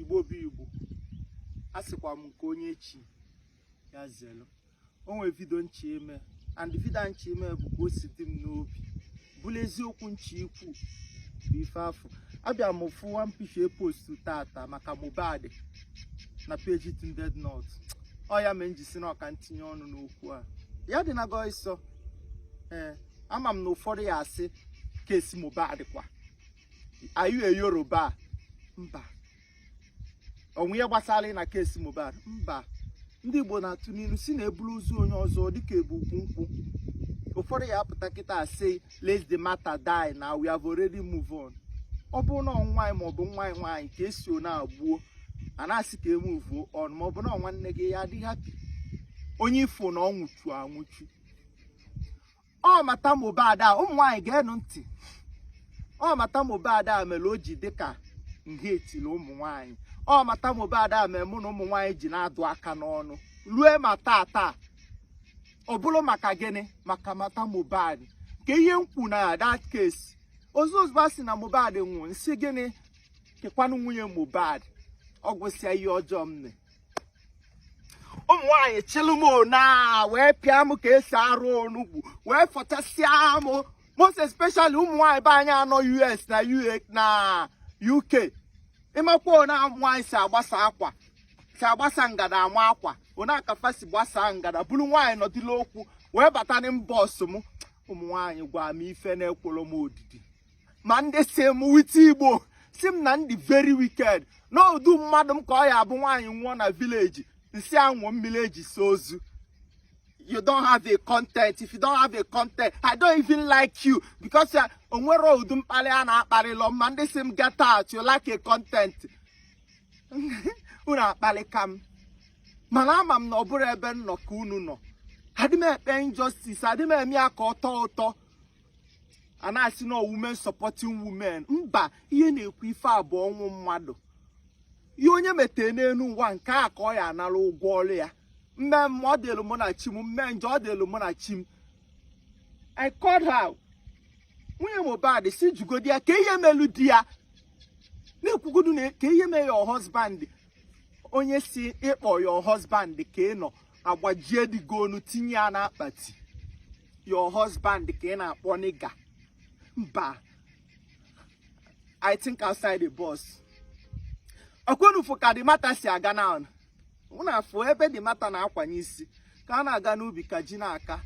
igbo bụ igbo a sịkwa m nke onye chi ya zelu o nwee video nchọ ime and video nchọ ime bụ ka o si dị m n'obi bụlụ eziokwu nchọ ikwu bụ ife afụ abịa m fụ one picture post tata maka Mohbad na page Tunde Ednut ọ ya mee nji sị na ọ ka ntinye ọnụ n'okwu a ya dị na gọịsọ ee ama m na ụfọdụ ya asị case Mohbad kwa are you a Yoruba mba o nwe ihe gbasara na case Mohbad mba ndị Igbo na-atụ n'ilu sị na e buru ozu onye ọzọ dịka e bu ukwu nkwụ ụfọdụ ya apụta kịta asị let the matter die na we have already move on ọ bụrụ na ọ nwa anyị maọbụ nwa anyị nwaanyị ka e si ona gbuo a na-asị ka e move on maọbụ na nwanne gị ya adịghị happy onye ị fụ na ọ nwụchu anwụchu ọ matter Mohbad a ụmụ nwaanyị geenụ ntị ọ matter Mohbad a mere o ji dịka nhetili ụmụ nwaanyị ọ matter Mohbad a mere mụ na ụmụ nwaanyị ji na-adụ aka n'ọnụ rue ma taa taa ọ bụrụ maka gịnị maka matter Mohbad ke ihe m kwu na that case ozu ozugbo a sị na Mohbad nwụrụ nsị gịnị kekwanụ nwunye Mohbad ọ gwụsịa ihe ọjọọ m mee ụmụ nwaanyị chịlụ m ona wee pịa m ka e si arụ onugbu wee fọchasịa m most especially ụmụ nwaanyị be anyị a nọ US na UA na UK ịmakwa ona nwaanyị si agbasa akwa si agbasa ngada amakwa ona akafa si gbasa ngada bụrụ nwaanyị nọdịla okwu wee bata na inbox m ụmụ nwaanyị gwa m ife na-ekwerọ m odidi ma ndị sị m wite igbo sị m na m dị very wicked na ụdị mmadụ m ka ọ ya abụ nwaanyị nwụọ na village nsị a ṅụọ mmiri e ji saa ozu you don't have a content if you don't have a content i don't even like you because uh, o nwerọ ụdị mkpali a na-akpalirọ m ma ndị sị m get out you like a content unu akpalika m mana ama m na ọ bụrụ ebe m nọ ka unu nọ adị m ekpe injustice adị m eme ya ka ọ tọọ ụtọ a na-asị na women supporting women mba ihe na-ekwu ife a bụ ọnwụ mmadụ ihe onye metee n'elu ụwa nke a ka ọ ya anara ụgwọ ọrụ ya mme mma ọ dịlụ mụ na chi m mme njọ ọ dịlụ mụ na chi m I called her nwunye Mohbad sị jụgodi ya ke ihe melụ di ya na-ekwugodu na ke ihe mee your husband onye sị ị kpọ your husband ka ị nọ agbajie di gị onu tinye ya n'akpati your husband ka ị na-akpọ nigga mba I think outside the box ọkwa unu fụ ka the matter si aga na unu afụ ebe the matter na-akwanye isi ka a na-aga n'ubi ka ji na-aka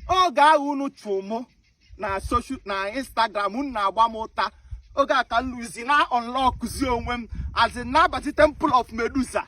oge ahụ unu chụ mụ na soshal na instagram unu na-agba m ụta oge a ka m luzi na-unlockzi onwe m as in na-abazi temple of Medusa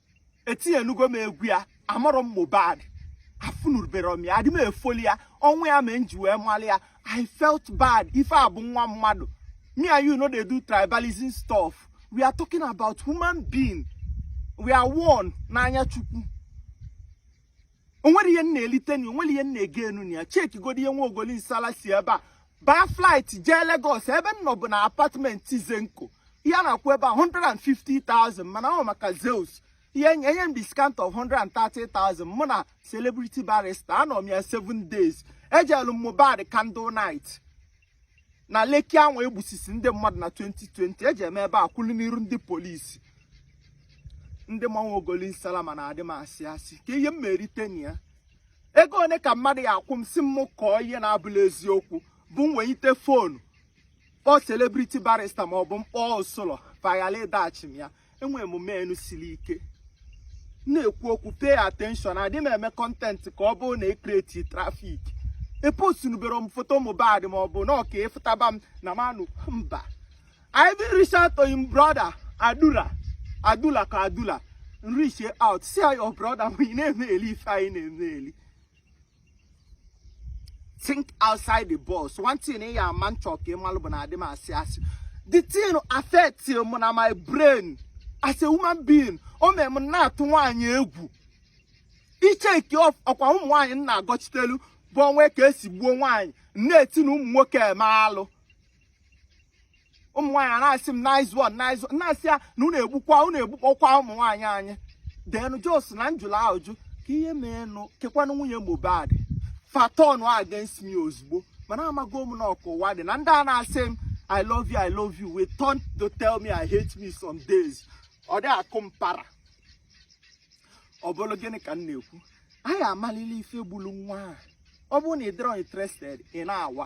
etinyenugo m egwu ya amarọ m Mohbad afụnurubere m ya adị m efoli ya ọnwụ ya mee m ji wee mali ya I felt bad ife a bụ nwa mmadụ me and you no dey do tribalism stuff we are talking about human being we are one n'anya chukwu o nwere ihe m na-elite na ya o nwere ihe m na-egain na ya chekigodi ihe nwa ogoli nsala si ebe a baa flight jee Lagos ebe m nọ bụ na apartment Zenko ihe a na-akwụ ebe a 150,000 mana ọ bụ maka Zeus ya enye m discount of 130,000 mụ na celebrity barrister anọ m ya 7 days ejelu m Mohbad candle night na Lekki a nọ wee gbusisi ndị mmadụ na 2020 ejee m ebe a kwụlụ n'iru ndị polisi ndị ma nwa ogoli nsala ma na adị m asị asị kee ihe m merite na ya ego one ka mmadụ ya-akwụ m sị m kọọ ihe na-abụla eziokwu bụ m wenyite foonu kpọọ celebrity barrister ma ọ bụ m kpọọ usoro paghala ịdaghachi m ya enwere m menu siri ike na-ekwu okwu pay attention adị m eme content ka ọ bụrụ na ekreti traffic epostunubere m foto Mohbad ma ọ bụ na ọka ịfụtaba m na manụ mba I even reach out to him brother Adula Adula ka Adula reach out see how your brother we na-emeli ife anyị na-emeli think outside the box one thing ị ya-ama m chọ ka ị malụ bụ na adị m asị asị the thing affect m na my brain as a human being o mee m na-atụ nwaanyị egwu iche nke ọkwa ụmụ nwaanyị m na-agọchitelu bụ o nwee ka e si gbuo nwaanyị m na-eti na ụmụ nwoke eme alụ ụmụ nwaanyị a na-asị m nice one nice one na-asị ya na unu egbukwa unu egbukpọkwa ụmụ nwaanyị anyị denụ just na m jụla ajụ kee ihe meenụ kekwanụ nwunye Mohbad fa turn against me ozugbo mana amago m na ọ ka ụwa dị na ndị a na-asị m I love you I love you will turn to tell me I hate me some days ọ dị akụ m para ọ bụrụ gịnị ka m na-ekwu anyị amalili ife gburu nwa a ọ bụrụ na ị dịrọ interested ị na-awa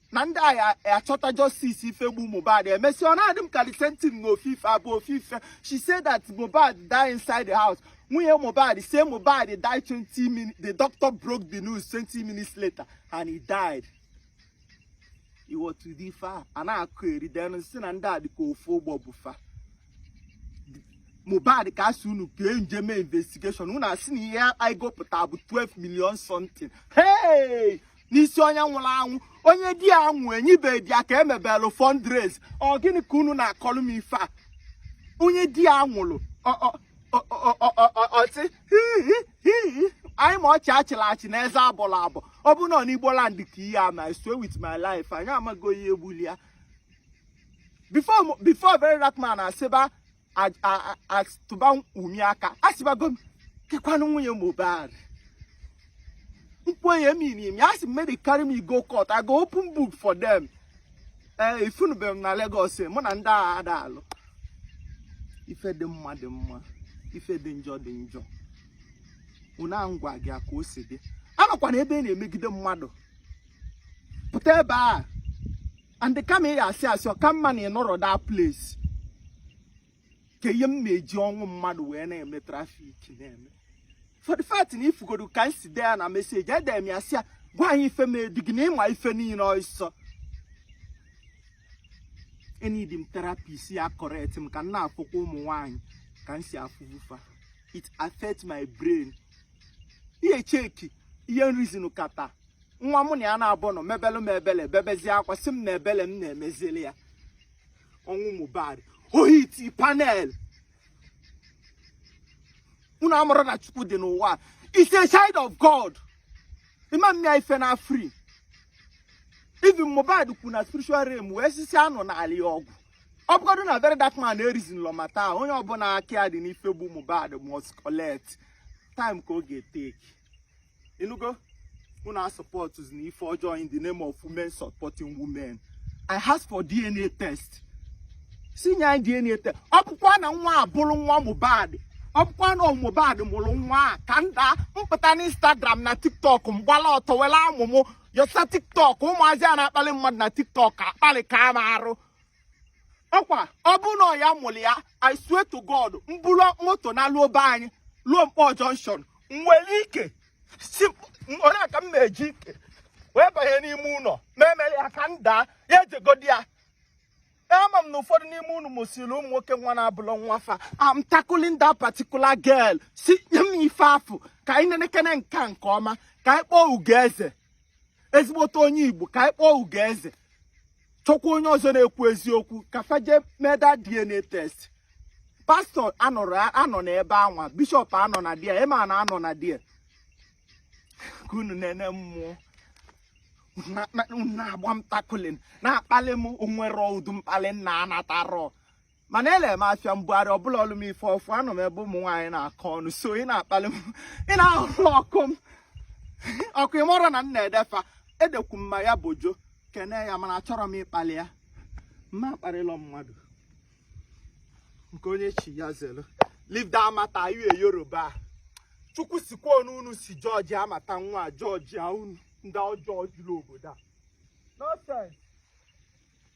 na ndị ga-achọta justice ife gbu Mohbad emesi ọ na-adị m ka the same thing na ofufe abụ ofufe she said that Mohbad died inside the house nwunye Mohbad say Mohbad died 20 minutes the doctor broke the news 20 minutes later and he died iwọtụdị ife a a na-akọ eri denụ si na ndị a dịka ofu ụgbọ bu fa Mohbad ka asị unu ka e jee mee investigation unu asị na ihe anyị gụpụta bụ 12 million something hey n'isi onye nwụrụ anwụ onye di ya nwụ enyibe di ya ka emebelụ fundraise ọ gịnị ka unu na-akọlụ m ife a onye di ya nwụrụ ọ sị anyị ma ọchị achịla achị na eze abọla abọ ọ bụ na ọ n'igbo land ka ihe a me I swear with my life anyị amago onye gbulu ya before very dark man asịba tụba Wunmi aka asịbago m kekwanụ nwunye Mohbad mkwenye miri emi asị make dey carry me go court I go open book for them ee eh, ị fụnụ be m na Lagos eh, mụ na ndị agha ada alụ ife dị mma dị mma ife dị njọ dị njọ ọ na m gwa gị ka o si dị anọkwana ebe ị na-emegide mmadụ pụta ebe a and kama ị asị asị ọ ka mma na ịnọrọ that place kee ihe m na-eji ọnwụ mmadụ wee na-eme traffic na-eme for the fact na ifugodo ka m si dee ya na message edere m ya sị ya gwa anyị ife me di gị na ịma ife niile ọ sị eneedi m therapist ya correct m ka m na-afụkwa ụmụ nwaanyị ka m si afụbu fa it affect my brain ị checki ihe m reason kata nwa mụ na ya na-abụ nọ mebelụ m ebele bebezie akwa sị m na ebele m na-emezili ya ọnwụ Mohbad ohiti panel unu amara na chukwu dị n'ụwa is a child of god ịma eme ya ife na free even Mohbad kwụ na spiritual realm wee sịsịa na ọ na-alụ ya ọgụ ọ bụgodụ na very dark man ereasonlọ matter a onye ọbụla aka ya dị n'ife gbu Mohbad must collect time ka ọ ga-etake ịnụgo unu asupportzina ife ọjọọ in the name of women supporting women i ask for dna test sị nye anyị dna test ọ bụkwa na nwa a bụrụ nwa mohbad ọ bụkwa na mohbad mụrụ nwa a ka m daa m pụta na instagram na tiktok m gbala ọtọ were amụ m yọsa tiktok ụmụazị a na-akpali mmadụ na tiktok akpali ka a marụkwa ọ bụ na ọ ya mụrụ ya i swear to god m bulu moto naluo be anyị luo Nkpọ junction nwere ike sị onye a ka m na-eji ike wee banye n'ime ụlọ ma emere ya ka m daa ya ejegodi ya ama m na ụfọdụ n'ime unu mụsịrị ụmụ nwoke nwa na-abụlọ nwa fa I'm tackling that particular girl sị nye m ife afụ ka anyị nenekene nke a nke ọma ka anyị kpọọ ugo eze ezigbote onye igbo ka anyị kpọọ ugoeze chọkwa onye ọzọ na-ekwu eziokwu ka fa je meda dna test pastor anọ na ebe anwa bishop anọ na dia imam anọ na dia ka unu na-ene mụ ọ na-agba m tackling na-akpali m o nwere ụdụ mkpali m na-anatarọ mana ele m afịa mbugharị ọbụla ọlụ m ife ọfụ anọ m ebe ụmụ nwaanyị na-akọ ọnụ so ị na-akpali m ị na-ahụrụ ọkụ m ọkụ ịmụrụ na m na-ede fa edekwu mma ya bojo kene ya mana achọrọ m ịkpali ya mma akparịlọ mmadụ nke onye chi ya zelu leave that matter you a yoruba chukwu sikwa n'unu si judge matter nwa judge unu ndị ọjọọ juru obodo a nonsense